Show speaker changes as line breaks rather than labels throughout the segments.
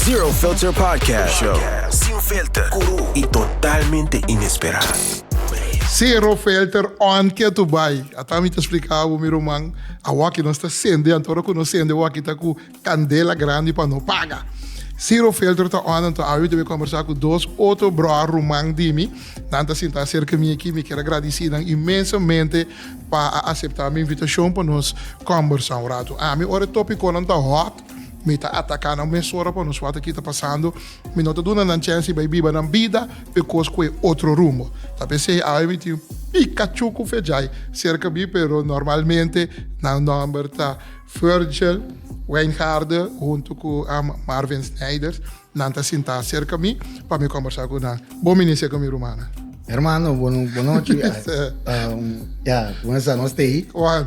Zero Filter Podcast Show. Sin filter, cru y totalmente inesperado.
Zero Filter on kia tu bay. Ata mi ta splica abo mi ruman, awaki nos ta sende anto ora cu nos sende awaki ta cu candela grandi pa no paga. Zero Filter ta on anto awe mi ta bay conversa cu dos otro broer ruman di mi. Nan ta sinta cerca mi aki. Mi kier a gradici nan inmensamente pa a acepta mi invitacion pa nos conversa un rato. Ami ora e topiconan ta hot. Mi ta ataká nan mesora pa nos wata kita pasando. Mi no ta duna nan chèns di bai biba nan bida, e kos kue otro rumbo. Ta p'esei awe mi tin pika chucu Vejay serka mi, pero normalmente nan nòmber ta Virgil Wijngaarden huntu cu Marvin Snijders. Nan ta sintá serka mi pa mi kòmbersá cu nan. Bon minisé cu mi rumannan. Hermano, bo
nochi. Ya, con esa nos t'ei. Juan.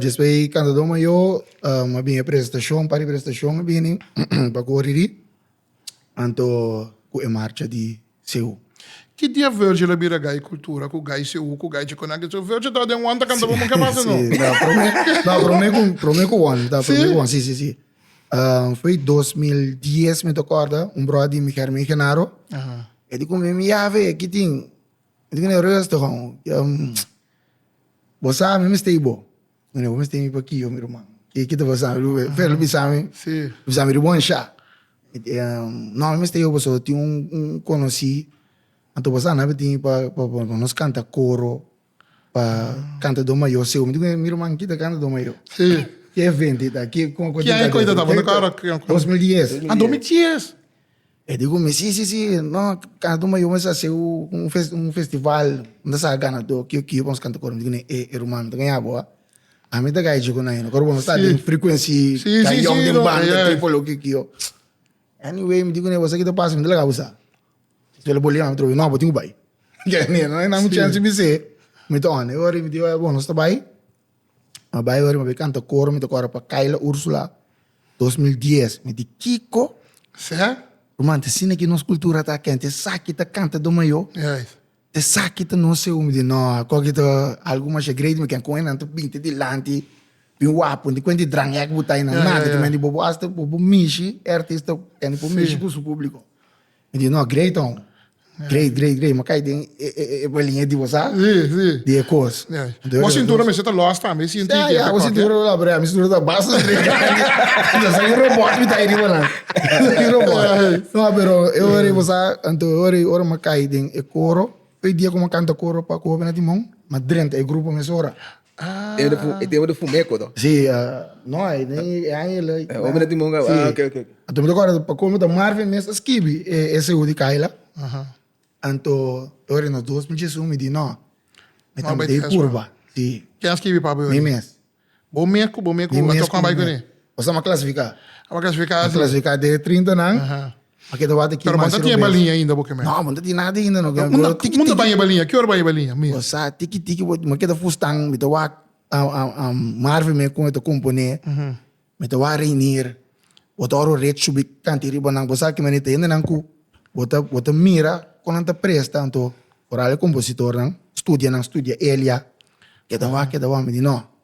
Despues i kantadó mayó a bini e presentashon, par di presentashon a bini pa kore di anto ku e marcha di Seú. Ki dia
Virgil a bira gai Kultura ku gai Seú ku gai Djikonaki? Su Virgil tava den wanta kanta Bobo ke pasa no? Sí, ta prome ku
prome ku wanta, ta prome ku wanta, sí, sí, sí. Foi i dos mil dies mi ta kòrda, un bròda di mi Germin Genaro, e di kume mi, Yave, kitin? Mi tin e reus to con bo sa mi mester y bo no ni bo mester mi pakiyo mi ruman ki ki ta pasa mi lo fe lo bisa mi lo bisa mi ri bon
sha
no mi mester yo pasobra tin un conoci anto bo sa na bitin y pa pa por nos canta coro pa canta do mayo seo mi tin mi ruman kita canta do mayo ki evento
y ta
ki con con tin
ta
dos mil dies.
E di ku
mi, Si, si, si, no, kanta tu mayo mester hasi un fes, un festival, bo ta sa ganadó, kio, kio, bo a kanta kor. Mi di ku nan, E e ruman, mi ta gaña bo, a? Ami ta gaya dje ku nan ayina, kor bo no sta den frekuensi gayón den banda, tripolo, kio, kio. Anyway, mi di ku nan, Esaki ta pasa, mi ta laga bo sa. Spela bo lema mi atrobes, No, bo tin ku bai. Nan mi chèns di mi se, mi ta òne. E ora mi di, Bo no sta bai? M'a bai ora mi bai kanta koro mi ta kora pa Kayla Ursula dos mil dies mi di kiko Sea
ruman te asina
ki nos kultura ta kende te esaki ta kanta do mayo te esaki ta no seu mi di no ako aki ta algu masha great mi ken kon enan ta binti dilanti bin wapu di kuenti drangek bo ta enan nada ta mindi bobo asta bobo mishi e artista kende por mishi ku su publiko. Mi di, No, great hon. Great, great, great. Mi kai den e, e, e bolinha di bo sa, Sí, sí. di e kos. Ya. Entonces, Bo sintura mester
ta lòs tambe, sinti Ya, di e ya, bo pekòt, ya. sintura, no,
brea, mi sintura ta basta trega. Ta sa un robòt mi ta ai riba nan. Un robòt. No, pero e ora ei, bo sa, anto e ora ei, ora mi a kai den e koro, e dia ku mi a kanta koro pa Ku Hopi na Timon, mi a drenta e grupo mesora. E
tempo di fuma e koto. Si, no
hay e aña el. E omi no tin bon kaba,
ok, ok. Anto mi ta kòrda, pa
kolmo ta Marvin mes ta skibi e su di Kayla. Anto e ora nos dos mi djesun, mi di no, mi ta mete e purba. Si. Ken a skibi pa bo e ora? Mi
mes.
Bo mes ku bo
mes ku a toknan bai kuné? Bo sa m'a klasifiká.
A m'a klasifiká si. M'a klasifiká den e trintanan. Pero bo nta tin e baliña ainda
bo ke mester. No, bo nta tin nada ainda
no. Como ta baña e baliña?
Ki ora baña e baliña? Mi. Bo sa tiki tiki
bo me keda fustan mi ta wak Marvin me con e ta compone mi ta wak Reinier bo ta ora ret shubi kanti riba nan bo sa ki manera ta hende nan cu bo ta bo ta mira con nan ta presta anto ora e compositor nan studia nan studia elia keda wak keda wak mi di no.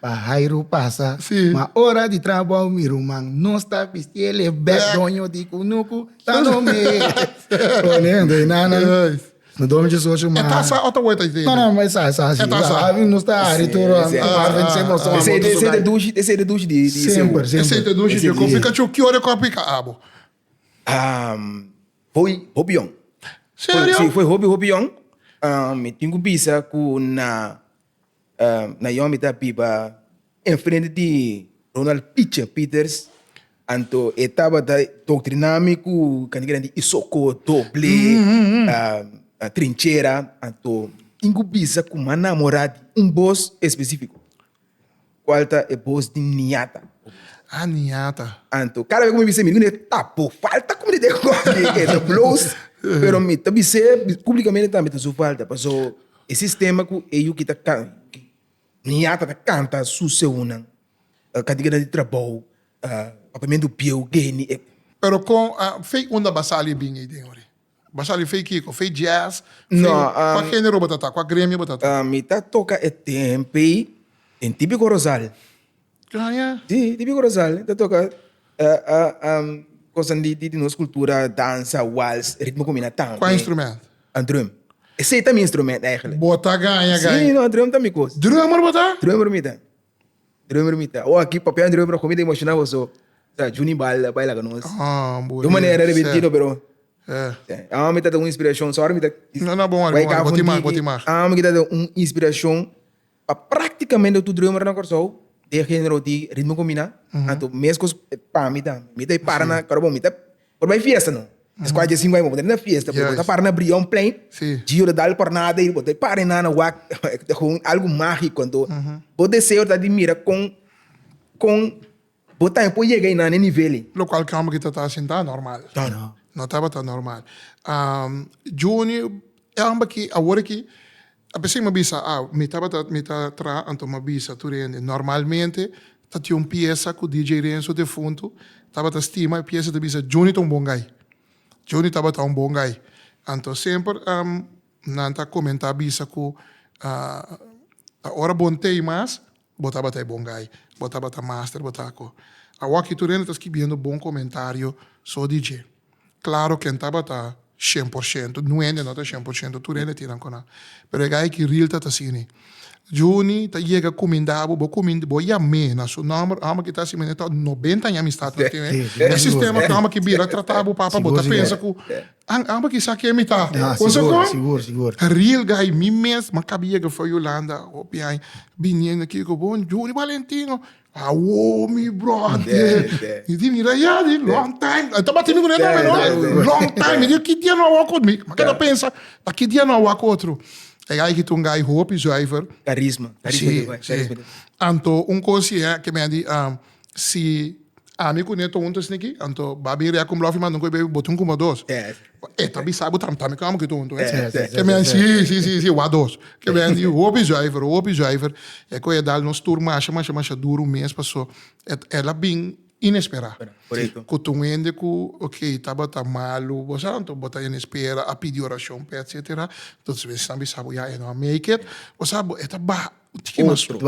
Pa Jairo pasa, ma ora di
trabou
mi ruman no sta bistiel e bek doño di kunuku ta no me pone un deinana. No domi dje socho ma. E ta
sa otro
weta ite. No
no ma e sa e sa si. E
ta sa. Abi no sta
ari tur
wan wan ven se moso wan moto su gai. E
seite dushi di di seu. Semper semper. E seite dushi
di
kopi
kachu
ki ora e kopi ka abo.
Foi hopi yong. Serio? Si
foi hopi hopi yong
mi tin ku bisa ku na Naomi ta biba enfrente di Ronald Picha Pieters, anto e tabata doctrina mi cu caniga den di isoko, doble, trinchera, anto tin cu bisa cu m'ha namora di un bos especifico. Cual ta e bos di Niata? Ah,
Niata. Anto, cada vez cu mi bis'é,
mi di cun'é, Ta bo falta cu mi di den coffee e ta bloos. Pero mi ta bis'é publicamente tambe, ta su falta, paso e sistema cu e yu ki ta can, cu Niata ta canta su seunnan, cantiganan di trabou, Papamentu Bieu, Geni, e. Pero con,
ah, Fey, unda b'a sali e bin ey den ori? Bo a sali fei kiko? Fei jazz? No, Fei am, kua
genero bo ta ta?
Kua gremio bo ta ta? ah, mi ta toka e
tempei den típico rosal. Ah, ya.
Sí, típico
rosal. Mi ta toka ah, ah, am, cosnan di, di, di nos cultura, danza, wals, ritmo cu mi na tan Kua den. instrumento?
A drum.
Esei ta mi instrumento eigenlijk. Bo ta gaña, Sí, gaña.
no, a drum ta mi
cos. Drummer bo ta? Drummer
mi ta.
Drummer mi ta. Oh aki papian drummer oco mi ta emociona boso ta Junie Balda bai laga nos de un manera
repentido pero awan mi ta un inspiracion
so awa mi ta bai ka
funtiki awan mi ta un
inspiracion pa practicamente tur drummer na Kòrsou den genero di ritmo combina anto mescos pami tambe mi ta para na Coro bo mi ta Por bay fiesta no. Es cual dje sinku ay bo ta na fiesta por bo ta para na Brion plein. Gio ta dal cornada y bo ta para na na wak ta con un algo magico anto bo deseo ta di mira con con bo tambe por yega na e nivel ey. Lo cual cambio ki tabata
hacen ta normal. No tabata
normal.
Junior e amba ki awor aki. A pesey m'a bisa au, mi tabata mi ta traha anto m'a bisa tur hende. Normalmente ta tin un piesa cu DJ Renzo defunto tabata stima, e piesa ta bisa Juni ta un bon gai. Juni tabata un bon gai. Anto semper nan ta comenta bisa cu ta ora bon t'ey mas Bo tabata e bon gai. Bo tabata master bo ta ko. Awor aki tur hende ta skibiendo bon komentario so di dje. Klaro ken tabata shen por shento, nu hende no ta shen por shento, tur hende tin nan ku nan. Pero e gai aki ril ta ta asini. Juni ta yega kuminda bo, bo kuminda, bo yam'é na su nòmber, òmber ki ta asina mi ta nobenta aña amistad nan tin, e sistema ku òmber aki bira trata bo papa bo ta pensa ku Ang aba kisa kemi ta. Konsa kon?
A real guy
mi mes m'a kabi yega for Yolanda hopi aña biniendo aki ku bo Juri Valentino awo mi brother mi di mira ya di long time e tabata mi ku den nome no long time mi di ki dia no a wòk mi m'a keda pensa ta ki dia no a wòk otro e guy aki ta un guy hopi zuiver karisma anto un kosie ke mi a di. Si ami ku Neto huntu esne aki, anto ba bin rea ku Mblòf i manda un koe bebe bot'un kuma dos. E ta bisa bo tambe tambe kòm ku e ta huntu. Ke mens si, si, si, si, wak dos. Ke mens di hopi zuiver, hopi zuiver. E koe a dal nos tur masha, masha, masha duru un mes pasó. E el a bin inesperá. Ku ta un
hende ku,
okey, tabata malu, bo sa, anto bo ta hende spera, a pidi orashon p'e, etsetera. Entonces, esnan bisa bo, ya, e no a make it. Bo sa, bo, e ta baha. Tiki mas tro.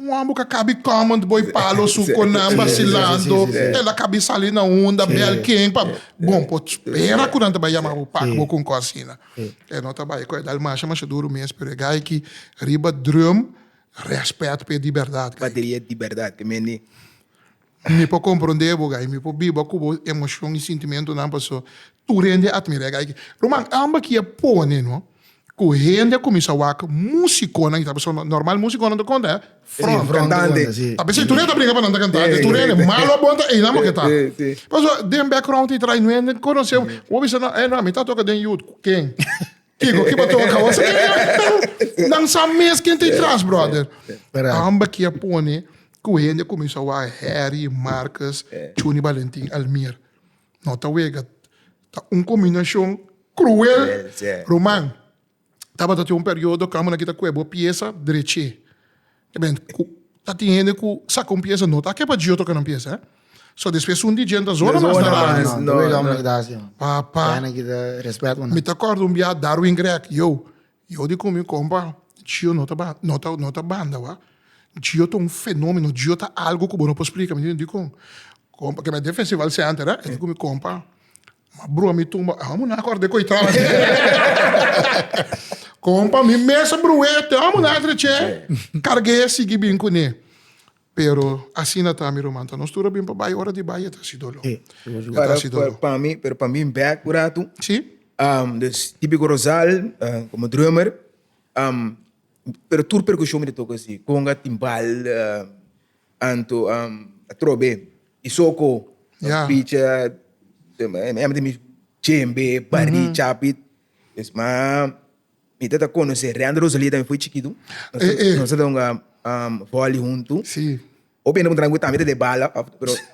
Un homber ka cabi comment boy palo su conan vacilando el a cabi sali na unda bel ken pa bon por spera cu nan ta bay yama bo pak bo cu un cos asina e no ta bay cu e dal masha masha duro mes pero e guy ki riba drum respet pe di berdad guy ki. Bateria di berdad
te mende. Mi
por comprende bo guy, mi por biba cu bo emocion y sintimentonan paso tur hende a admira e guy aki. Ruman, amba ki a pone no cu hende a cuminsa wak musiconan y ta paso no, normal musiconan ta conta front, cantante, ta pens'e
tur hende ta bringa pa
nan ta cantante, tur hende, malo o bon ta einan bo ke ta, paso den background y traino hende conoce bo, bo bisa no, eh no, mi ta toca den youth, cu ken? Kiko ki paton a kaba? Nan sa mes ken ta i tras, brother. Amba ki a pone ku hende a kuminsá wak Harry, Marcus, Chuni, Balentin, Almir. No ta wega. Ta un kombinashon kruel. Ruman, tabata tin un periodo ku amo nan kita ku'e bo piesa drech'é. Eben, cu ta tin hende cu saca un pieza no ta ke pa dji otro canan pieza, eh. So despues un di djen ta zona mas na radio. No, no, no, no, no.
Papa. Kende na kita
respet bo
na. Mi ta acorda un biaha
Darwin Grech, yo, yo di cu mi compa, djio no ta ba, no ta, no ta banda, wak. Djio ta un fenomeno, djio ta algo cu bo no por splica. Mi di, dicon? Compa, ke mi a den Festival Center, eh. E di cu mi, compa, Ma broer mi tumba amo na acorda e coi traba di compa mi mes a broe te amo na treche carge sigui bin cune pero asina ta mi ruman ta nos tur a bin pa bay ora di bay e ta si dolo e ta si dolo pa
mi pero pa mi back cu ratu si
dus
tipico rosal como drummer pero tur percusion mi ta toca si conga timbal. Anto a trobe i soko a picha hember di mi chembe bari chapit pues ma mi ta ta conoce rey and rosalia tambe foi chikitu nos ta dor un voli hunto hopi
hende ku ntra mi ku
tami ta de bala.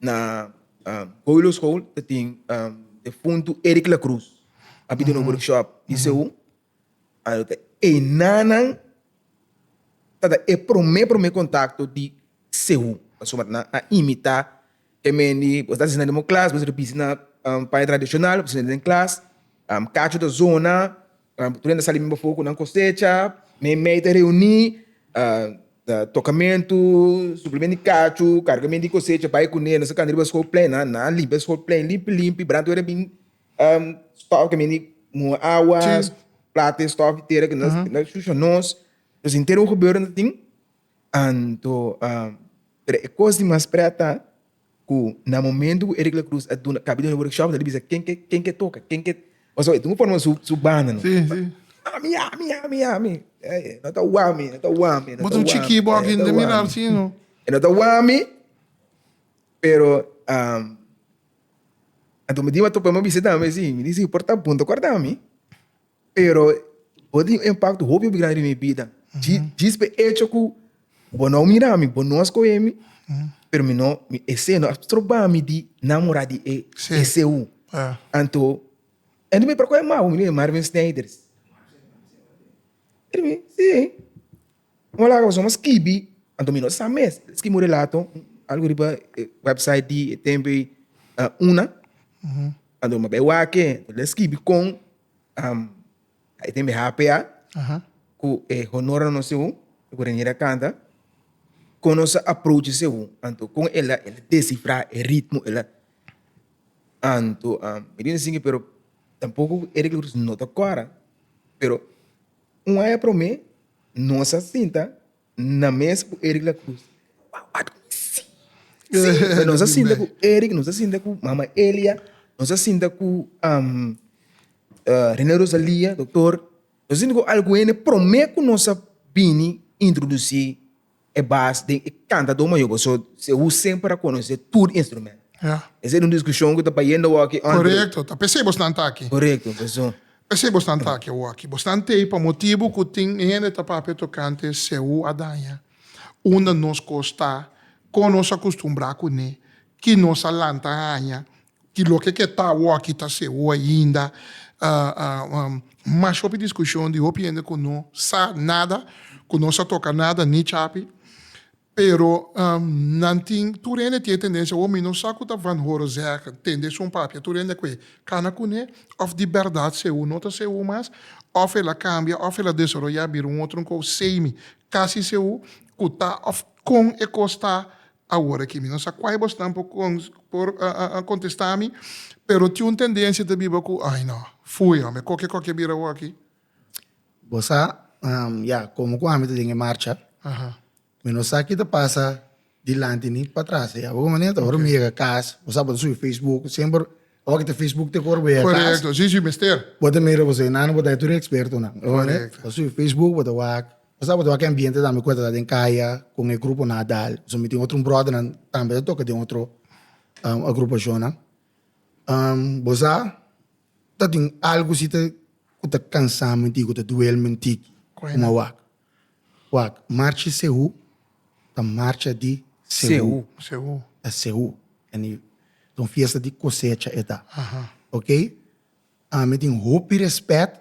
Na Goilo School ta tin defuntu Eric Lacruz. A bin den un workshop di CU. Ayo ta e nanan ta da e prome prome contacto di CU. Pasobra nan a imita e men di bo ta asina den bo klas, bo ta bisa na paña tradicional, bo ta asina den klas, cacho ta zona, Nan prende sali men bafo cu nan cosecha, men mey ta reuni tocamentu, suplemente di cachu, cargamente di cosecha, bay cune, nos ta cana riba school plein nan, nan a limpi school plein limpi limpi, brand tu era bin stockemen di muha awa, plata y stock tera cu nos ta shushia nos, nos intero un gebeurtenis tin, anto pero e cos di mas pret ta. ku na momentu ku Eric Lacruz a duna kabida un workshop ta bisa ken ke ken ke toka ken ke paso e ta un forma su su banda no si si ami ami
ami
ami no ta wami no ta wami no ta wami bo ta un chiki
bo aki ta mirar si no e no ta wami
pero um anto mi di bo a tope mi bisa tambe si mi di si por ta bon ta guarda mi. Pero bo tin un impakto hopi grandi den mi bida, djis p'e echo ku bo no a mira mi, bo no a skohe mi, pero mi no, esei no a stroba mi di namora di e eseu. Anto, e no me pará ku e magu, mi di, Marvin Snijders. E di mi, sí. Kuma laga pasobra mas kibi anto mi no sa mes e skimi un relato algu riba e website di e tempo ei a una anto mi bai wak-e anto el a skibi kon a tene e hpa ku e honor nan seu e ku Reneer a kanta kon nos a aprochi seu anto kon el a el a desifra e ritmo el a anto mi bin singu pero tampoco Eric Roeds no ta kora pero un aña prome Nos a sinta na mes ku Eric Lacruz. Sí, pero nos a sinta ku Eric, nos a sinta ku Mama Elia, nos a sinta ku um, uh, René Rosalia, doktor. Nos a sinta ku algu hende promé ku nos a bini introdusí e bas den e kantadó mayor bo so Sehu semper a konosé tur instrumento. Ya. Esei ta un diskushon ku ta bayendo awor aki Andre. Korekto, ta p'esei
bosnan ta aki. Korekto, pasobra.
P'esei bosnan ta
aki awor aki. Bosnan t'ei pa motibu ku tin hende ta papia tokante Sehu a daña unda nos kos ta, kon nos a kustumbrá kuné, ki nos a lanta haña, Di loke ke ta awaki ta sewo ainda mash hopi diskushon di hopi hende ku no sa nada, ku no sa toka nada ni chapi. Pero nan tin, tur hende tin e tendensia, oh mi no sa ku ta Van Horo zeg, tende esun papia. Tur hende a kue kana kuné òf di bèrdat sewo no ta sewo mas, òf el a kambia, òf el a desaroyá bira un otro nkou seimi kasi sewo ku ta òf kon e kos ta Awor aki mi no sa kuai bosnan por kontestá mi, pero tin un tendensia ta biba ku, Ai no, fui hòmber, koke kos ke bira awor aki? Bo
sa, ya, komo ku ami ta den e marcha, mi no sa ki ta pasa dilanti ni patras. Bo hopi manera ta ora mi yega kas, bo sa bo ta subi facebook, semper ora ki ta facebook te ku ora bo yega kas,
bo ta mira bo senan,
bo ta tur e ekspertonan, bo ta subi facebook,
bo ta
wak Nos a botaba ke ambiente tambe ku a ta da den kaya kon e grupo Nadal. So mi tin otro un bròdernan tambe ta toka den otro agrupashonnan. Bo sa ta tin algu si te ku ta kansa menti, ku ta duel menti komo a wak. Wak, marchi Sehu ta marcha di Sehu, ta Sehu, ta un fiesta di kosecha e ta, oke. Ami tin hopi respet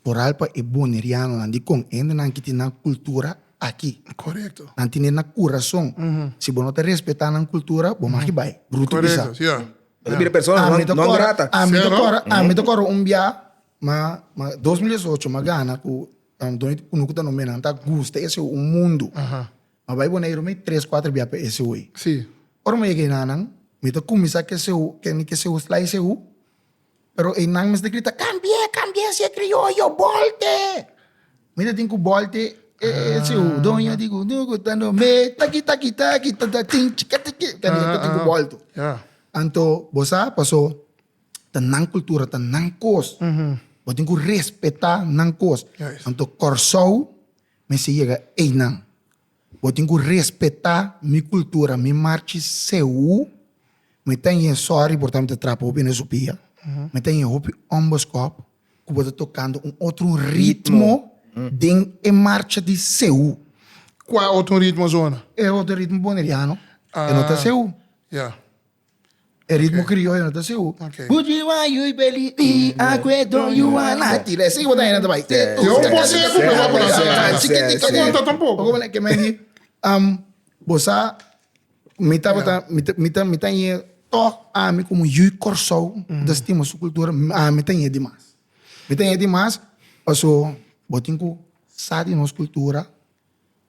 toral pa e Bonerianonan di kon hendenan ki tin nan kultura aki. Korekto. Nan tin e
na kurason.
Si bo no ta respetá nan kultura, bo maki bai. Bruto bisa. Korekto, sia. Bo
ta bira
persona
Ami
ta non kòrda, grata. ami ta Sia, no? kòrda, ami ta
kòrda un biaha ma, ma dos mil diesocho m'a gana ku done ku no ku ta no menan ta gusta ese ho un mundu. M'a bai Boneiru mi tres, kuater biaha pa ese ho ei. Si. Ora m'a yega
ei na
nan, mi ta kuminsá ku ese ho, kende ku ese ho slaise ho, Pero einan mester grita, Cambi'é, cambi'é si e crioyo, bolte! Mi ta tin cu bolte e siu doño di gundugu ta no me, taki, taki, taki, ta, ta, tin, chiki, tiki, ta mi ta tin cu bolto. Anto
bo sa
paso ta nan cultura, ta nan cos. Bo tin cu respeta nan cos. Anto Corsou mester yega einan. Bo tin ku respetá mi kultura, mi marchi seú. Mi ta ñe sòri porta mi ta trapa hopi na su pia. Mi ta ñe hopi òmbos kòp ku bo ta tokando un otro ritmo den e marcha di seú. Kua otro
ritmo asona? E otro ritmo
boneriano, e no ta seú. Ya. E ritmo krioyo no ta siu. Would you want you
beli
di akwe don you want a ti le si wata hende ta bai. Yo un boseku
pe bo a pone asina ta bai chikiti ta konta tampoco. Oko mane ke men di
um bo sa mi tabata mi ta mi ta ñe tog ami komo yu Kòrsou ta stima su kultura ami ta ñe dimas mi ta ñe dimas paso bo tin ku sa di nos kultura.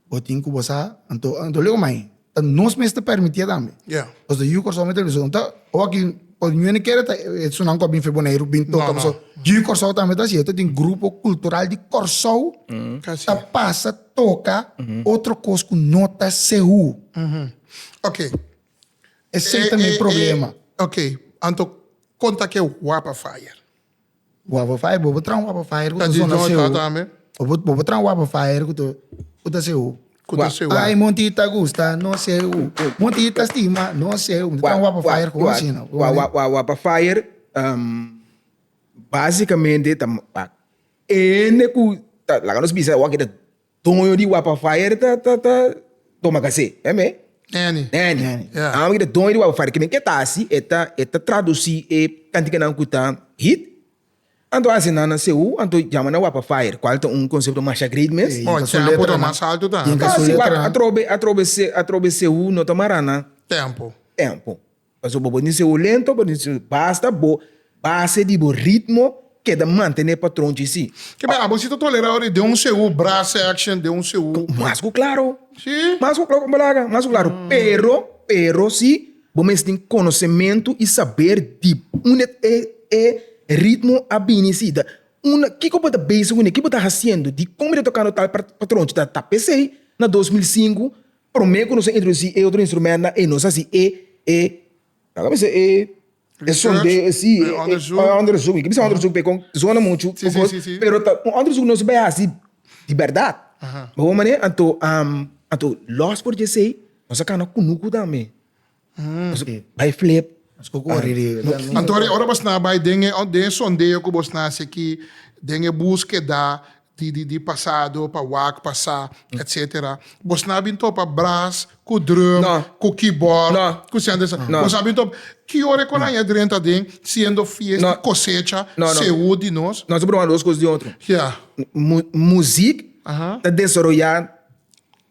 bo tin cu bo sa, anto, anto lego mai, ta nos mes ta permitia tambe. Ja. Os de Yu Kòrsou
me
television ta, o aki, o ñu ene kere ta, e sunan ku a bin fe Boneiru, bin toka, No, no. paso, Yu Kòrsou tambe ta si, e ta tin grupo kultural di Kòrsou, Kasi. ta pasa toka otro kos ku no ta sehu. Ok.
Esei
tambe e problema. Ok, anto
konta ke wap a faya. Wapper
fire bobo tran wapper fire ku ta
sona sehu bobo tran
wapper fire ku ta ku ta sehu ai monti
ta gusta
no sehu monti ta stima no sehu mi ta tran wapper fire ku asina wapper fire
basikamente ta ene ku laga nos bisa awor kita Toño di Wapa Fire ta ta ta toma kasé, e me? Neni. Neni. Neni.
Yeah. Ah, mira,
Toño di Wapa Fire, kimin ke ta hasi, e ta, e ta traducí e cantikanan ku ta hit, anto hasi nan na Seú, anto jama nan Wapa Fire, kual ta un konsepto masha great mes. Ey. Oh, Inka su tempo ta letranan. mas
alto ta. Inka su Kasi wak letranan. atrobe, atrobe, se, atrobe
Seú no ta mara nan Tempo.
tempo.
Pasobra bo por niña seu lento, bo niña seu basta bo base di bo ritmo keda mantené patron chi sí. Ke men abo si ta tolera
ora den un seu brace action, den un seu. Mas ku klaro.
Sí. Mas ku klaro,
bo laga
mas ku klaro. Pero, pero si bo mes tin konosementu i saber di unda e e ritmo a bini si ta unda kiko bo ta bese ku ne, ki bo ta hasiendo di komo i ta tokando tal patron chi ta ta pesei na dos mil sinku Prome ku nos a introdusi e otro instrumentnan i nos a hasi e e nan a bisa e e sonde si e onderzoek, i ke bisa onderzoek p'e kon zona muchu kokos pero ta un onderzoek ku nos bai hasi di bèrdat. Bo wak manera? Anto anto lòs for dje esei nos a kana kunuku tambe. Bay flip.
Anto ora ora bos na bay den e sondeo cu bos na haci aki den e busqueda di pasado pa wak pa sa etc. Bos na bin topa brass cu drum cu keyboard cu siente sa.
Bos a
bin topa.
Ki
ora e konanjo a drenta den siendo fiesta di cosecha sehoe di
nos. Nos
a broma dos cos di otro. Muziek
ta
desaroya.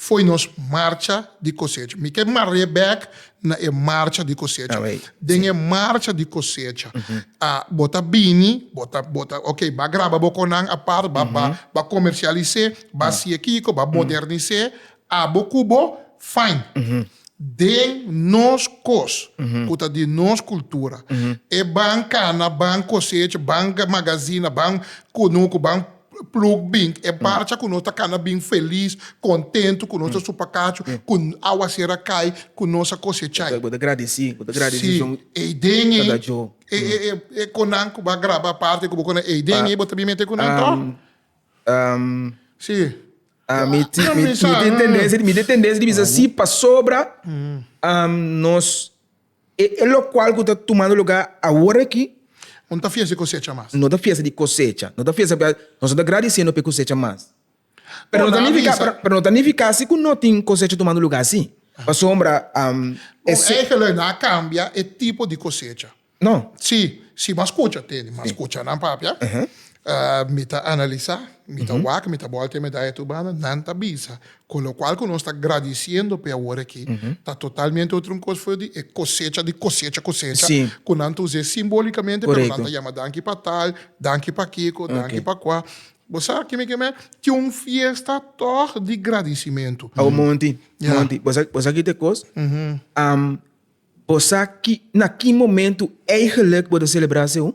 Foi nos Marcha di Kosecha. Mi ke mar'é bèk na e Marcha di Kosecha. Den e
Marcha di
Kosecha bo ta bini, bo ta, bo ta, ok, ba graba bo kon nan apart, ba, ba, ba komersialis'é, ba si'é kiko, ba modernis'é, abo ku bo, fain. Den nos kos ku ta di nos kultura, e ban kana, ban kosecha, ban magazina, ban kunuku, ban. Pluk bin e barcha ku nos ta kana bin felis, kontentu ku nos a supa kachu, ku awa ser a kai, ku nos a kosechá i. Bo ta gradisí, bo
ta gradisí Jon. Sí,
ei den ei, e e
e e konan
ku bo a grabá parti ku bo konan ei den ei bo ta bin mete ku nan tòg. Sí, ya,
mi tin mi tin tendensia mi tin tendensia di bisa sí pasobra nos E lokual ku ta tumando lugá awor aki. Bo no ta fies di
kosecha mas. No ta fies di kosecha.
No ta fies p'e nos no ta gradisiendo p'e kosecha mas. Pero no ta nifiká pero
no ta nifiká
si
ku
no tin kosecha tumando lugá sí. Pasobra e. Un
enkele nan a kambia e tipo di kosecha. No. Sí,
sí, mas
kucha. Te mas kuchanan papia. Mi ta analisá, mi ta wak, mi ta bòltea mi da e tur banda, nan ta bisa. Con lo cual cu nos ta gradiciendo p'e awor aki, ta totalmente otro un cos for di e cosecha di cosecha cosecha
cu nan ta us'é
simbólicamente, pero nan ta yama danki
pa
tal, danki pa kico, danki pa cua. Bo sa ki'mi ki'mi? Tin un fiesta tòg di gradicimento. Awo Monty,
Monty, bo sa, bo
sa kico ta e
cos? Bo sa ki, na ki momento eigenlijk bo ta celebra aseu?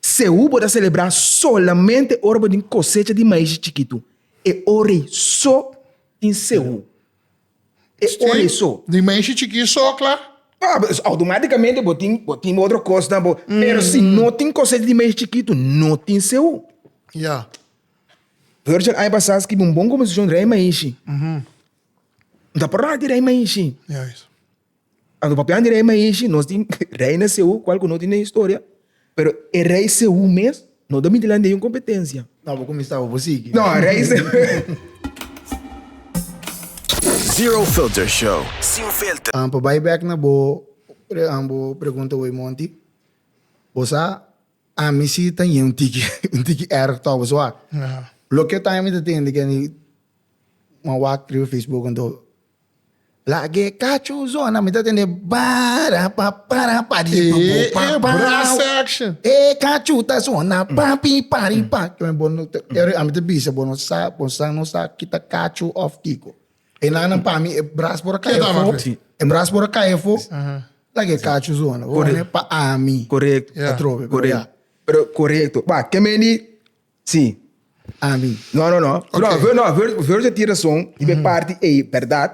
Sehu bo ta selebrá solamente ora bo tin kosecha di maíschi chikitu. E ora ei so tin sehu. E ora ei so. Di maíschi chikí so
kla? Kla, pues outomátikamente
bo tin, bo tin otro kos na bo. Pero si no tin kosecha di maíschi chikitu, no tin sehu. Ya. Virgil aña pasá a skibi un bon komposishon Rei Maíschi. Bo ta pròpi di Rei Maíschi. Ya.
Ora bo papia
di rei Mahishi, nos tin reina Seú, kual ku no tin den historia, pero e rei Seú mes no ta miti landi un kompetensia. No, bo kuminsá, bo por
sigui. No, rei
Zero Filter Show, Sin Filter. Pa bai bek na
bo pregunta wey Monty, bo sa ami si ta ñe un tiki un tiki erg tok bo sua. Loke time mi ta tende kende man wak riba Facebook anto Lag'é cacho zona mi ta tende para pa para pa di pa bo
pa pa brass section e cacho ta
zona pa pi pa ri pa yo bo no te a mi te bisa bo no sa bo sa no sa kita cacho of kico e nan nan pa mi e brass por cae fo
e brass por cae
fo lag'é cacho zona pa ami ta trobe
pero ya.
Pero
corecto ba ke men di Sí, ami.
No, no, no. No,
Okay. ver, no, ver,
Verge tin
razón y be parti ei berdad.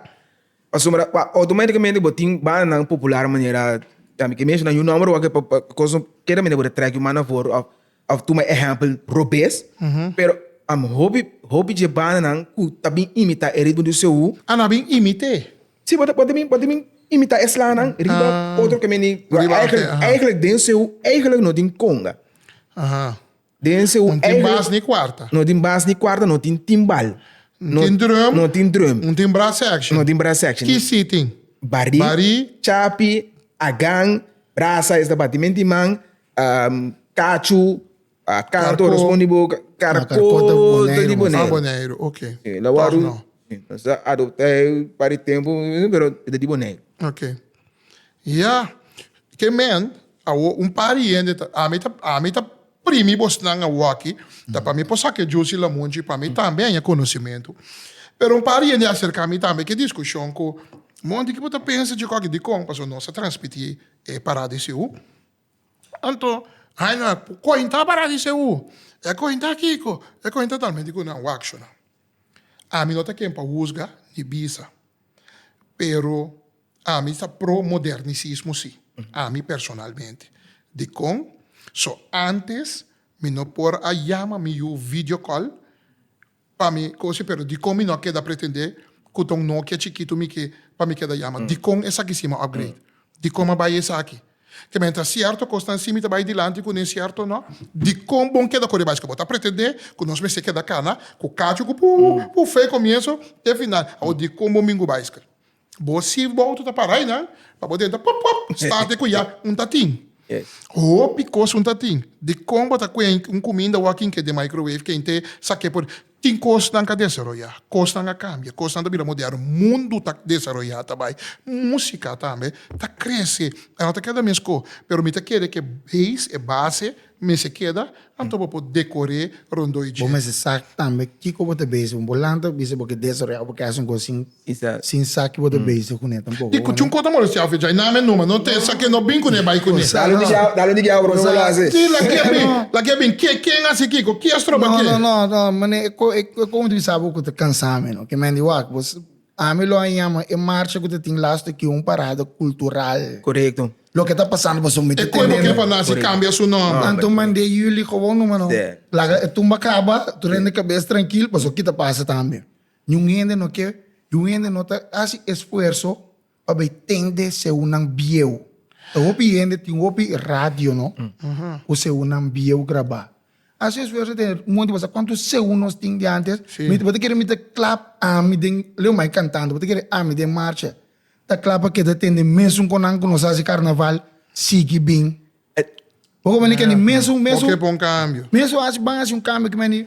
Pasobra pa automáticamente bo tin bandanan popular manera tambe que menciona un nombre wak pa pa cos no keda mende por trek un man na voro of of tuma ehempel robes. Pero am hopi hopi dje bandanan cu ta bin imita e ritmo di CU. Ah, no a bin imité.
Sí, bo ta bo ta bin
bo ta bin imita eslanan riba Ah. otro que mende Riba ante, eigenlijk aha. eigenlijk den CU eigenlijk no tin conga. Aha. Den seu Un tin eigen bas ni kuarta.
No tin bas ni kuarta,
no tin timbal. Un tin drum.
No tin drum. Un tin
brass section. No
tin brass section. Ki
si tin?
Barí. Barí.
Chapi, agan, brasa, esta batimen di man, kachu, kanto, rospon di boka, karko ta di Boneiru. Boneiru, ok.
Tog no.
Nos a adopta e pari tempu,
pero e
ta di Boneiru. Ok. Ya,
ke men, awo un par di hende ta, ami ta, ami ta primi bosnan awoaki, ta pa mi por sa ke jusi lamunchi, pa mi tambe haña konosimentu. Pero un par di hende a aserka mi tambe ke diskushon ku, Mon, di ke bo ta pensa dje koki? Dikon? Pasobra nos a transmití e pará di Seú. Anto, haña ku kuenta pará di Seú. E kuenta kiko? E kuenta talmente ku nan wakshonan. Ami no ta ken pa husga ni bisa, pero. Ami ta pro modernisismo si, ami personalmente. Dikon? So antes mi no por a yama mi yu video call pa mi kosi pero dikon mi no a keda pretende ku ta un Nokia chikitu mi ke pa mi keda yama? Dikon esaki si mi a upgrade? Dikon mi a bai esaki? Te mientras cierto kosnan si mi ta bai dilanti ku nen cierto no. Dikon bon keda kore bai? Eske bo ta pretende ku nos mester keda kana ku kachu ku puu puu fei komienso te final? Awor dikon bo mingu bicycle? Bo sirf bo auto ta para ay nan, pa bo denta pop pop starte ku ya un ta tin. Hopi kos un ta tin. Dikon bo ta kuen un kuminda wak kin ke den microwave ken te sa ke por tin kosnan ka desaroyá, kosnan a kambia, kosnan ta bira moderno, mundu ta desaroyá ta bai, musika tambe ta krese, a no ta keda mes ko, pero mi ta kere ke beis, e base, Mester keda, anto bo por decor'é rondó e dje. Bo mester sa tambe
kiko bo ta bezig con bo lanta bo bisa bo ke desorea o bo ke haci un cos sin sin sa ki bo ta bezig cuné tampoco. Di cuchun cos ta molestiao fe
djai name numa no te sa ke no bin cuné bai cuné. Dalo di djau dalo di djau
profe bo lo haci. Di la ke bin la
ke bin ke ken haci kiko ki a stroba ke. No no no no mané
e cos mi ta bisa bo cu ta cansa mi no ke men di wak bo Ami lo a yama e marcha ku ta tin las tokiu un parada kultural. Korekto. Loke
ta pasando
pasobra mi ta tenendo. E kuerpo kipa nasi
kambia su nòmber. Anto mand'é Yuli
kobou numa no. Laga e tumba kaba, tur hende kabes trankil pasobra ki ta pasa tambe. Niun hende no ke yu hende no ta hasi esfuerso pa bai tende seunan bieu. Ta hopi hende tin hopi radio no ku seunan bieu grabá. Haci esfuerzo den un momento basa cuanto segun nos tin di antes mi bo ta kere mi ta clap ami den leo mai cantando bo ta kere ami den marcha ta clap pa keda tende mesun con nan cu nos haci carnaval sigui bin bo con mani kende mesun mesun
mesun haci ban haci un
cambio cu mani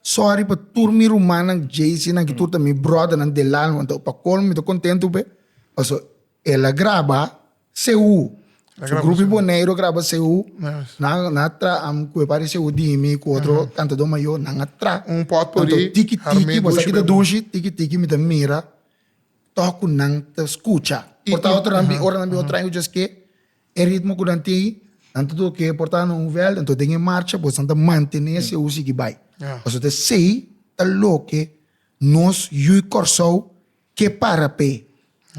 Sorry pa tur mi rumannan JC nan ki tur ta mi brothernan del alma anto pa colmo mi ta contento p'e paso el a graba Sehu su grupi Boneiru a graba Sehu nan nan a traha am cu e papá di Sehu Dimi cu otro cantador mayor nan a traha anto tiki
tiki bo sa ki ta
dushi tiki tiki mi ta mira tok cu nan ta scucha por ta otro nan bin ora nan bin otro aña cu dje ske E ritmo ku nan tin, nan ta tur ke por ta na un vèlt, anto den e marcha boso nan ta mantené si aún sigui bai. Pasobra ta esei ta loke nos yu Kòrsou ke para p'e.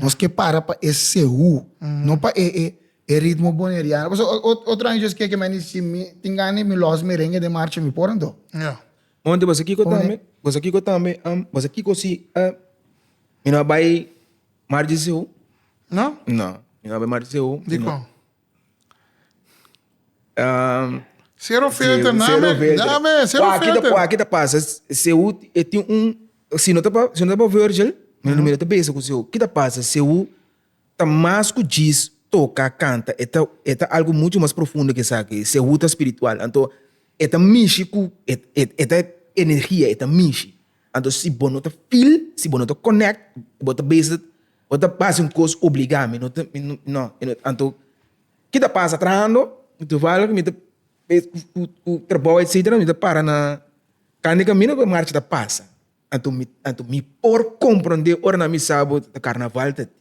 Nos ke para pa e sehu, no pa e e ritmo boneriano. Pasobra otro aña djos ke ke mei si mi tin gana di mi lòs merenge den marcha mi por anto. Monte boso
kiko tambe? Boso kiko tambe? Boso kiko si mi no a bai? Margie Seu? No?
No, mi no a bay
Margie Seu. Di
kon? Um, Cero filter, na Cero me- filter. na me, cero Wak, kita- filter. wak, kita pasa,
Seu e tin un, si no ta pa, si no ta pa Virgil, mi no mira ta besa ku Seu. Kita pasa, Seu ta mas ku djis toka, kanta, e ta, e ta algu muchu mas profundo ke esaki. Seu ta spiritual, anto e ta mishi ku, e, e, e ta energia, e ta mishi. Anto si bo no ta feel, si bo no ta connect, bo ta bezit, bo ta basi un cos obliga, mi no ta, mi no, no, mi no, anto ki ta pasa trahando, toevallig mi ta bez cu, cu trabou etcetera mi ta para na can di camino pa marcha ta pasa, anto mi, anto mi por comprende ora nan mi sa bo ta carnaval ta di,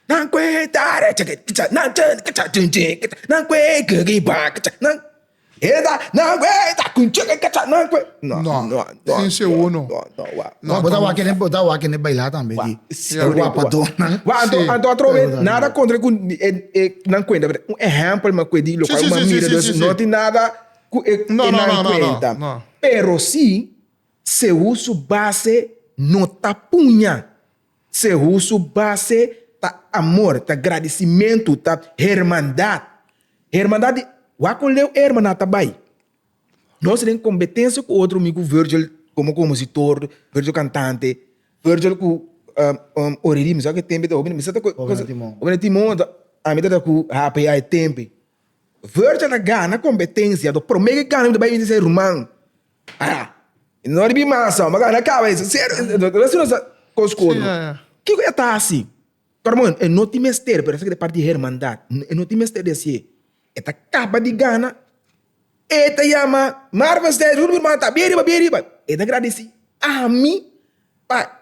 Nan kue tarecha ke kicha nan che kicha chin chin kicha nan kue ke ki ba kicha nan esa nan kue ta
kun che kicha nan kue no no no no sin se uno no no wa no bota
wa kende bota wa kende baila tambe di e wapadonan wa anto anto atrobe
nada kontra ku e e nan kuenta pero un ehèmpel me kue di lo kual nan mira dus no tin nada ku e e nan kuenta
pero si
se uso base no ta puña. Sehu su base ta amor, ta gradisimentu, ta hermandat. Hermandat di waku leu e hermandat ta bai. Nos den kombetensia ku otro mi ku Virgil komo komositor, Virgil kantante, Virgil ku ore ritmo sa ku e tempo ta hopi misa ta ku hopi na timon ta ami ta ku hape ya e tempe. Virgil ta gana kompetensia to prome ke gana mi ta bai bisita e ruman. Ah, no riba i masa, maka na kabesa, serio, e ta hasi nos kos ku otro. Kiko e ta hasi? Hermano, e no tin mester, pero esaki ta parti di hermandad. E no tin mester di hasié. E ta kaba di gana, e ta yama, Marvestein, Rudy Birbante, ta bia riba, bia riba. E ta gradisí ami pa.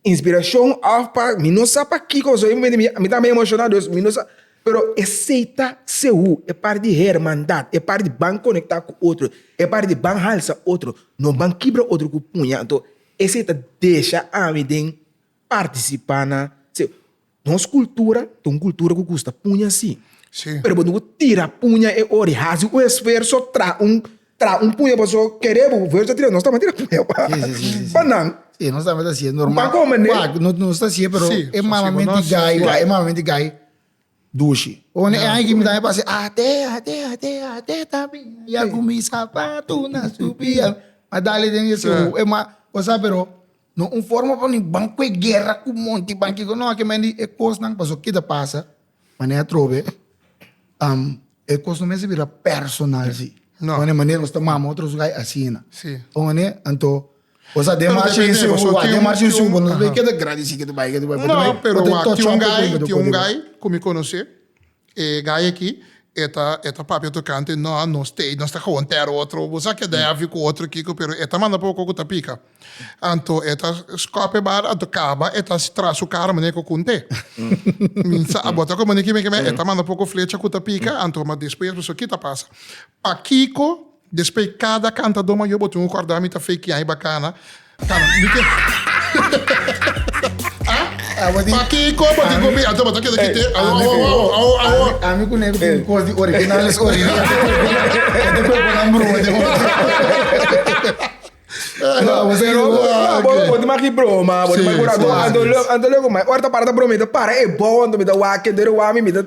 Inspiracion of pa mi no sa pa kiko so mi ta mi emociona dus mi no sa pero esey ta segur e parti di hermandad e parti di ban conecta cu otro e parti di ban halsa otro no ban kibra otro cu puña enton esey ta desha ami den participa na Nos cultura ta un cultura cu gusta puña si. Sí. Pero bo no bo
tira
puña e ora y haci un esfuerzo tra un tra un puña paso quere bo esfuerzo a tira nos tambe a tira puña pa sí, sí, sí, pa nan.
Sí, nos
tambe ta así, es
normal. Pa come, pa, no, no
está así, pero
sí, es malamente sí,
gay,
sí. es malamente
gay.
Dushi. O ne ai que me tambe pase, ate, ate, ate, ate, tambi, ya con mi zapato na subia. Adale den eso, es más, o sea, pero No un forma pa mi ban ku e guera ku monti ban kiko no aki mendi e kosnan paso ke ta pasa manera atrobe e kos no mester bira personal si wan e manera nos ta
mama
otro zugay asina por mane
anto
boso a den marcha den subu a den marcha
den
subu
nos bay
ke ta gradisi
ke
ta bay ke ta bay no pero wa
tin un gai tin un gai ku mi konosé E gay aki e ta e ta papia tocante no a nos te nos ta gewoon ter otro bo sa keda heavy cu otro kico pero e ta manda pa bo cu cu ta pica anto e ta scop e bal anto caba e ta haci tras su cara manera cu con te mi sa a bota como ni kibe kibe e ta manda poco flecha cu ta pica anto ma despues pasobra kico ta pasa pakico Despey cada cantador mayor bo tin un corda mi ta fake yahi bacana cana mi ken pakico bo tin comi ato bo ta keda kite
ami cu nego tin cos di original so ori ete cu cu nan broma tin oto bo tin maki broma bo tin maki
broma anto anto loco ora ta para ta broma mi ta para e bow anto mi ta wak keder wak mi mi ta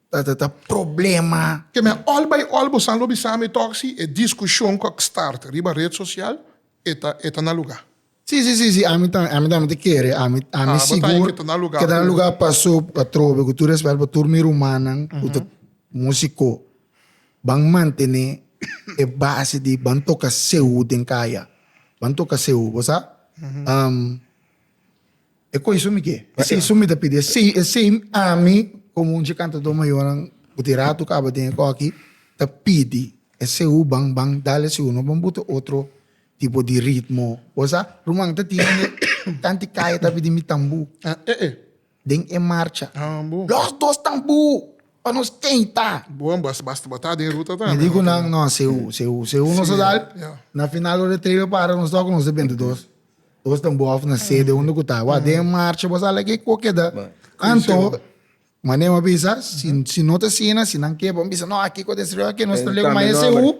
Ta ta ta problema. Ke me all bai
all bo san lo bisa mi tok si e diskushon ku a kstart riba ret sosial e ta e ta na luga. Si si si si ami
ta ami tambe ta kere ami ami sigur ke ta na luga ke ta na
luga paso
atrobe ku tur respèt pa tur mi rumannan ku ta musiko ban mantené e base di ban toka seu den kaya ban toka seu bo sa E koe sumi ke? E sei sumi ta pidi, e sei, e sei ami komo un dje kantadó mayonan ku tin ratu kaba den e kòki ta pidi e seu ban ban dal e seunan ban butu otro tipo di ritmo. Bo sa ruman ta tin ene tanti kaya ta pidi mi tambu den e marcha, los dos
tambu
pa nos kei ta. Bo bo a basta
botá den ruta tambe. Mi di ku nan, no, seu,
seu, seu nos a dal, na final ora e tren lo para nos tok nos ta benta dos. Bos ta bo of na sede unda ku ta. Wak den e marcha bos ala ke ko keda. Anto mane bo a bisa, si no ta asina, si nan keba, bo bisa no aki ku destruyó, aki nos ta lei ku maese hu.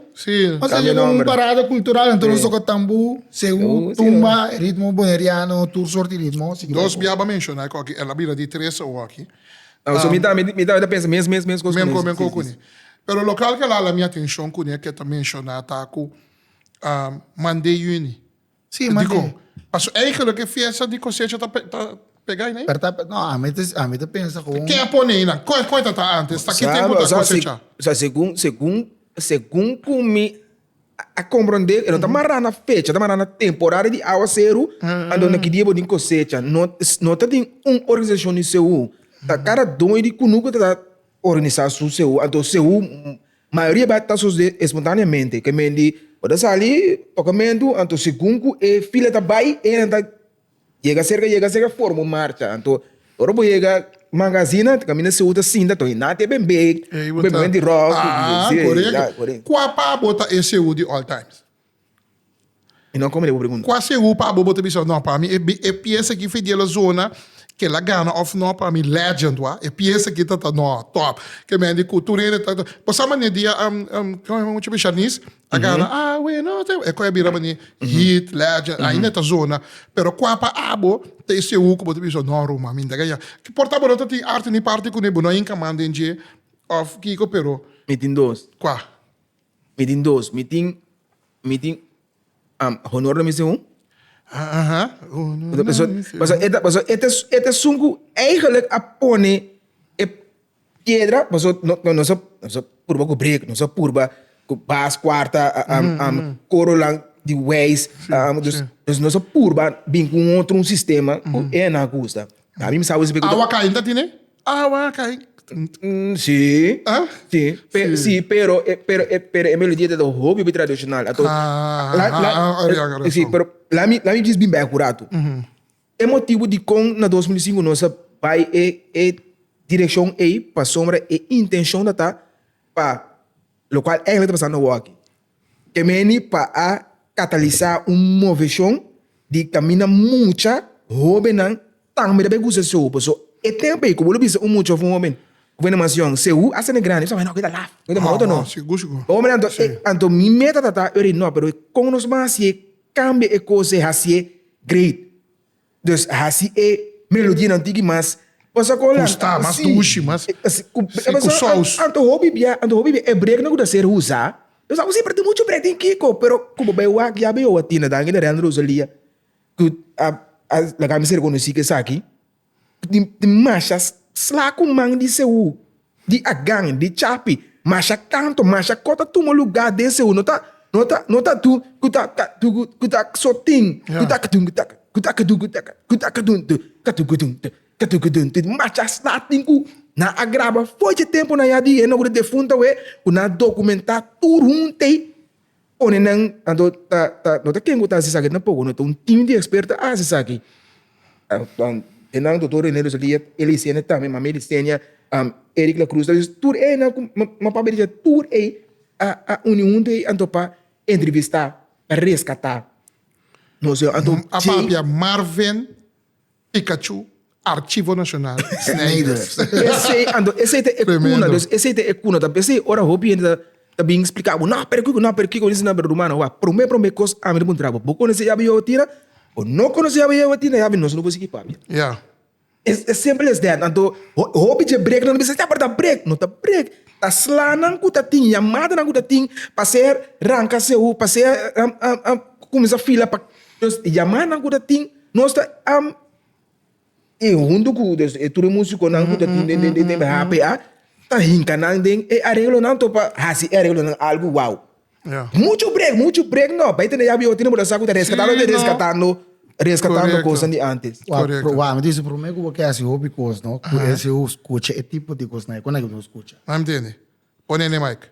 Nos ta lei ku
un parada
kultural, anto nos toka tambu, sehu, tumba, e ritmo boneriano, tur sort di ritmo. Dos bia bo a menshoná
ku aki, el a bira di tres awo aki. So mi tambe,
mi tambe ta pensa mes mes mes kos ku esaki. Menko ku ne.
Pero lokal ku el a hala mi atenshon ku ne, ku e ta menshoná ta ku Mandé Yuní. Sí, ma di.
Paso eigelo
ke fiesta di kosecha ta pega ei nei? Per ta, no, ami ta,
ami ta pensa kon. Ke a pone ei nan? Koe,
koe ta ta antes? Ta ki tempo ta kosecha? O sea, segun, segun, segun
ku mi a komprondé, e no ta mará na fecha, ta mará na temporada di awaseru, anto ki dia bo tin kosecha. No, no ta tin un organisashon di seú. Ta kada dueño di kunuko ta organisá su seú. Anto seú Mayoria bèk ta sosde espontaneamente. Ke men di bo ta sali tokamentu, anto segun ku e fila ta bai e nan ta yega serka yega serka forma un marcha. Anto ora bo yega manga asina ta kaminda Seul ta sinta anto e nan te ben bek, ku ben momento di ròk, ku di. Aa,
korekto. Kua pa bo ta e Seul di all times?
Kua segur pa bo bo ta
bisa no pa mi e pies aki Fediel a zona kel a gana of no pa mi legend wa e pies aki ta ta no top ke men di ku tur hende ta bo sa mane dia kau a mucha bisha Nis a gana a weno e kue a bira mane hit legend ainda e ta zona pero kua pa abo ta e segur ku bo ta bisa no Ruma mi dega ya por ta bo no ta tin arte ni parti kune bo no a hinca man den dje of kiko pero kua. Mi tin
dos. Mi tin, mi tin am honor na mester un. Aha, honor na Paso, mester paso un. eta, paso eta, eta esun ku eigenlijk a pone e piedra, paso no, no, nos a, nos a purba ku brek, nos a purba ku bas kuarta, am, am, koronan di weis, am, dus, dus nos a purba bin ku un otro un sistema ku e nan gusta. Ami mi sa wis esplika. Awa kai no ta tine?
Awa a kai. Si,
si, si, pero, pero, pero e melodia ta hopi hopi tradishonal. Anto, la, la, si, pero la mi, la mi djis bin bai ku ratu. E motibu dikon na dos mil i sinku nos a bai e, e direkshon ei pasobra e intenshon ta ta pa lokual eigenlijk ta pasando wak aki. E meni pa a katalisá un moveshon di kaminda mucha hóbennan tambe ta bai kusa seu. Por eso, e tempu ei ku bo lo bisa un mucha òf un hóben ku bai na mansion, seu a sende grandi, bo ta kaba, nò, ke ta laf, ke ta moto, nò. Hombre, anto e,
anto
mi meta ta ta, yo di, nò, pero kon nos ban hasié kambia e kos ei hasié great? Dus a hasi e melodianan tigi mas pasobra ku Holanda. Ku sta mas dushi,
mas si ku sous. Anto hopi bia, anto
hopi bia e breknan ku ta ser usa, nos a usa, pero tin muchu brek den kiko, pero ku bo bai wak yabi owa tin adan aki na Real Rosalia ku a laga mi ser rekonosí ku esaki tin tin mashas slaku man di seú. Di agan, di chapi, masha kanto, masha kos ta tuma luga den segundo ta no ta no ta tu ku ta ka tu ku ku ta so tin ku ta ka tun ku ta ka ku ta ka tun ku ta ka ku ta ka tun tu ka tu ku tun tu ka tu ku tun tu masha sla tin ku na a graba foce temponan ya di henoku de defuntu awe ku na dokumenta tur huntu ei. Pone nan, tanto ta, ta, no ta ken ku ta hasi esaki, tampoco no ta un tim di expert ta hasi esaki. E nan doctor Rene Roeselija, el a enseña tambe, mami el a enseña, Eric Lacruz ta bisa tur e nan ku mi papia di dje tur ei a, a uni huntu ei anto pa entrevistá, pa reskatá. Nos a papia
Marven. Pikachu, Archivo Nacional, Snijders. Esei ando,
esei ta e cuna, dus esei ta e cuna, ta esei ora hopi hende ta ta bin splica bo, no pero kico, no pero kico, dice nabra rumano, oa, prome prome cos ami ta puntra bo, bo conoce yabi Yehova Tira? Bo no conoce yabi Yehova Tira, yabi nos no bo sigi papia. Ya.
Es es simple
as that, anto ho hopi dje break nan ta bisa, ya pero ta break, no ta break, ta slanan cu ta tin, yamadanan cu ta tin pa ser ranca seu, pa ser cuminsa fila pa Entonces e yamanan cu ta tin nos ta am y hunto cu e tur e musiconan cu ta tin den den den hpa ta hinca nan den e areglonan to pa haci e areglonan algo wow mucho
break mucho
break no bay tene yabi ote no bo ta sa cu ta rescatando te rescatando rescatando cosnan di antes. Wou mi dice prome
cu bo ke haci hopi cos no cu ese ho scucha e tipo di cosnan e con aki bo lo scucha. Nan mi tende
pone ne mic.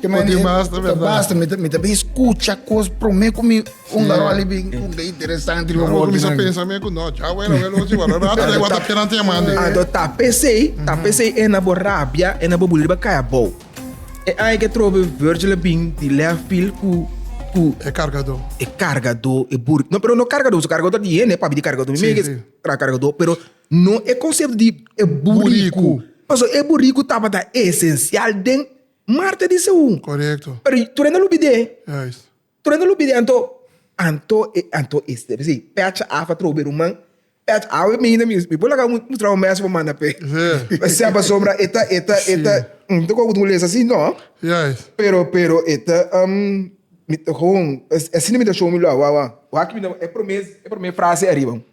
Poti bas ta berdad. Bas ta mi ta bin skucha kos promé ku mi un garó li bin ku ke interesante lo Amo kumisa wokinan. pensa
me ku no dja wèl a wèl ochi wala rata dai wata pera te man de. Anto ta pesei
ta pesei e na bo rabia e na bo buli riba kai abou. E ai ke trobe Virgil a bin di lèf field ku ku E
kargadó. e kargadó e
bur no pero no kargadó su kargadó ta di hende papi di kargadó mi Si, mei ke si. tra kargadó pero no e konsepto di e buriku Buriku. paso e buriku tabata esensial den Marta di Seú. Korekto. Pero tur
enda lo bid'é.
Juist.
Tur enda lo bid'é, anto,
anto e, anto e step esei, pèch af a trobe ruman, pèch af a mina mi, mi por laga un, un traho mèsho pa manda p'e. Sí. P'e sea pasobra e ta, e ta, e ta, Sí. no ta koba ku ta un les así, no. Juist. Pero,
pero e
ta, am, mi ta, ho, asina mi ta show mi lo awawa. Wak mi na, e promé, e promé frase ariba.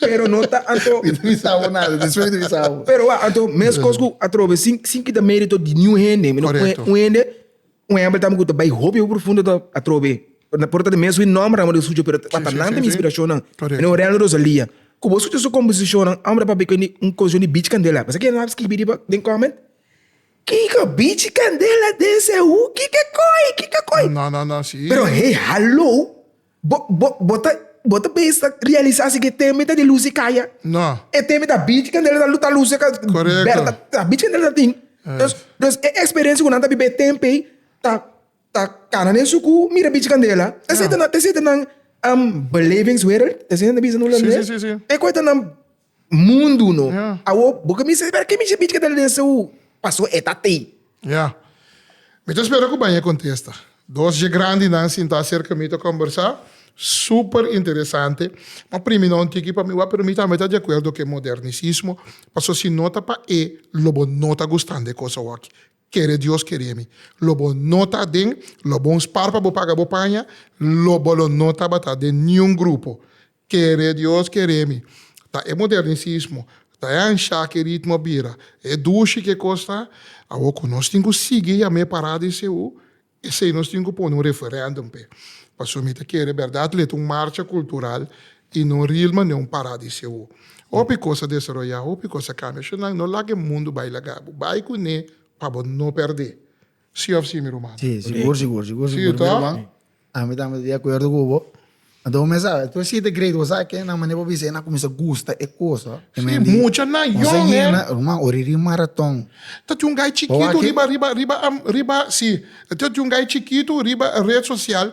Pero no
ta anto. Mi ta bisa abo nada,
despues mi ta bisa abo. Pero wak, anto meskos
ku atrobe sin sin kita merito di niun hende, mi no pone Correcto. un hende, un ehempel tambe ku ta bai hopi hopi profundo ta atrobe. Por ta mes wi nòmber amo di sucio pero ta Sí, sí, nan sí, ta mi sí. inspiracionnan. Correcto. Mira Aurelio Rosalia. Ku bo sucio su composicionnan, amo ta papia ku e un composicion di Bichi Candela. Bo sa kier nan a skibi riba den comment? Kiko Bichi Candela den seu? Kiko koe? Kiko koe? No, no, no, sí. Pero
hey, hallo!
Bo, bo, bo ta, bo ta bes ta realisa si ke teme ta di lus di kaya? No. E teme ta
bichi
kandela ta, ta lus eka Correcto. bèr ta, ta
bichi kandela ta tin.
Entonces, entonces e experiencia ku nan ta biba e tempo ei ta, ta kana den suku mira bichi kandela. Ta seta nan, ta seta nan, um, belevingswereld, ta asina nan ta bisa nan holandés? Si, si, si, si. Te koe ta nan. Mundu no. Awo bo cominsá
di spera,
ke mishi bichi ke ta den Seú? Paso e ta tei. Ya.
Mi ta spera ku baña kontesta. Dos dje grandinan sintá serka mi ta kombersá, super interesante. Ma primi na un tiki pa mi wak, pero mi tambe ta di akuerdo ku e modernisismo, paso si no ta pa e, lo bo no ta gustan di e kos awoki. Kere Dios kere mi, lo bo no ta den, lo bo un spar pa bo paga bo paña, lo bo lo no tabata den niun grupo. Kere Dios kere mi. Ta e modernisismo, ta e ansha ki ritmo bira e dushi ki e kos ta. Awor ku nos tin ku sigui yam'é pará di CU, esei nos tin ku pone un referendum p'e. Pasobra mi ta kere bèrdat leta un marcha kultural i no ril mane un pará di CU. Hopi kos a desaroyá, hopi kos a kambia. Sho nan no laga e mundu bai laga bo. Bai kuné pa bo no pèrdé. Sí of sí mi ruman? Sí, sigur, sigur, sigur,
sigur mi ruman.
Ami tambe ta di
akuerdo ku bo. Anto bo mester sabe, despues siete grade bo sa kinan mane bo bisa e na kuminsá gusta e kos ho. Sí, mucha nan
yòn, eh. Nos a yena, ruman, ora e di maraton.
Ta tin un gai
chikitu riba, riba, riba, riba, sí, ta tin un gai chikitu riba red sosial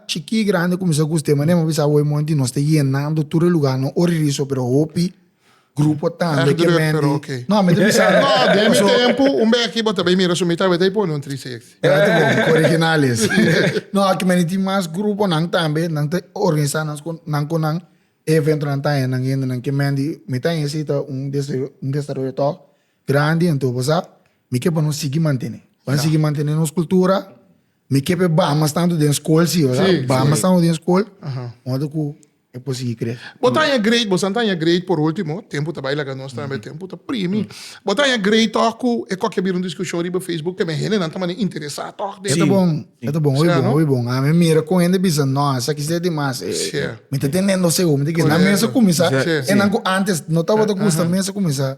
Chikí i grandi kuminsá ku stema nèm a bisa awor monti nos ta yenando tur e lugá no ora riso pero hopi grupo tambe ke menti no mi ta bisa no den mi tempu
un bèki bo ta bai mira su mi tambe ta bai pone un tri six ya ta bon ku original
es no aki menti tin mas gruponan tambe nan ta organisá nan skon nan kon nan e eventonan ta haña nan hendenan ke menti mi ta haña si ta un un desaroyo tò grandi anto bo sa mi ke pa nos sigui mantene pan sigui mantene nos kultura Mi ke pe baha mas tantu den skol si, wèrdad? Sí, Baha sí. mas tantu den skol, Aha. modo ku e por sigui kre. Bo ta haña grade, bo san
ta haña grade por último, tempu ta bai laga nos tambe, tempu ta primi. Bo ta haña grade tòg ku e kòke a bira un diskushon riba Facebook te me hendenan ta mane interesá tòg den. Eta bon, eta
bon, hopi Sea, bon, no? hopi bon. Ami a mira ku hende bisa, no, esaki ser di mas. eh, Sí. eh, Mi ta teniendo seguro, mi ta ke na Correcto. mesa kuminsá. Sí, E nan ku antes no tabata gusta Aha. mesa kuminsá.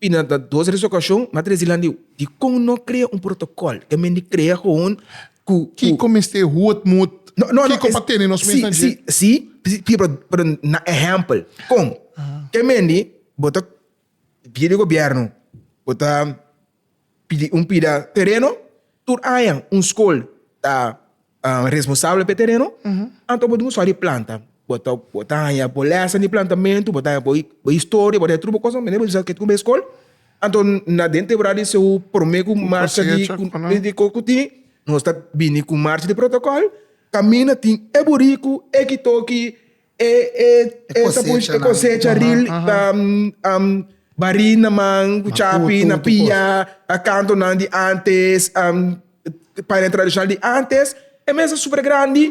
Bina ta dos resokashon, m'a trese landiu. Dikon no krea un protokòl? Ta mester krea gewoon ku. Kiko
mester hut mut? Kiko pa tene nos mesa dje? Sí, sí,
pero na ehèmpel. Kon? Ke mester bo ta bida di gobièrnu, bo ta. Pidi un pida tereno, tur aña un skol ta responsabel p'e tereno, anto bo duna un sòrt di planta. Bo ta bo ta haña bo lèsen di plantamentu, bo ta haña bo bo historia, bo ta haña tur bo kosnan, manera bo bisa ke kube skol, anto na den temporada di seu prome ku marcha di di ku ku tin nos ta bini ku marcha di protokòl, kaminda tin e buriku, e kitoki, E e cosecha ril ta bari na man cu chapi na pia cantonan di antes paina tradicional di antes e mesa super grandi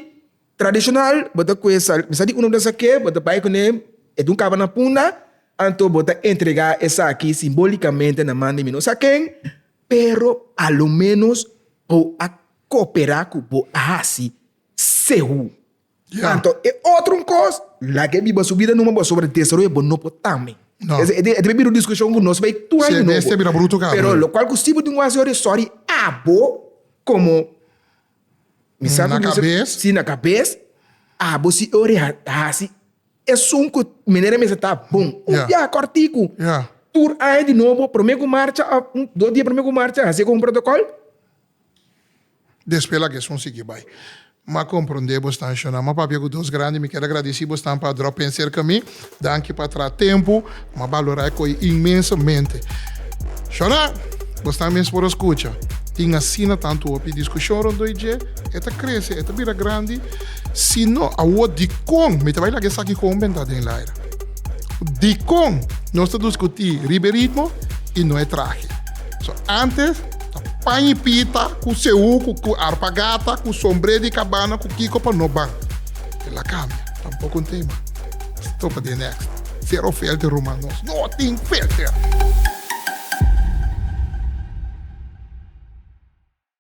tradicional bo ta cuesta mi sa di uno bo ta sa ke bo ta bay cune e dun caba na punda anto bo ta entrega esaki simbolicamente na man di mi no sa ken pero alo menos bo a copera cu bo a hasi sehu. Ya. Anto
e otro un
cos, laga e biba su bida numa pasobra desaroya bo no por tambe. No. Es, e ta bira
un discusion
cu nos bay tur aña Si e nobo. besti a bira bruto cabro Pero ya.
locual cu si bo tin un
haci ora e sorry abo como mi sa Na cu mi sa cabez. si na cabez abo si e ora e ha- haci esun cu manera mester ta bon. Un Ya. biaha corticu. Ya. Tur
aña di nobo
prome cu marcha of un dos dia prome cu marcha hacia como un protocol. Despues
laga esun sigui bai. M'a comprende bo stan shona. M'a papia cu Deus grandi. Mi keda gradici bo stan pa drop en cerca mi. Danki pa tra tempo. M'a balora e coi inmensamente. Shona, bo stan mes por a scucha. Tin asina tanto hopi discusion rondoi dje. E ta crece, e ta bira grandi. Si no, awo dicon mi ta bai laga esaki con un bentad den el aire? Dicon nos ta duscuti riba e ritmo y no e trahe? So, antes. Pan y pita, cu seuku, cu arpa gata, cu sombre di cabana, cu kico pa no ban. E la cambia, tampoco un tema. Stopa di e next. Zero filter ruman, nos no tin filter!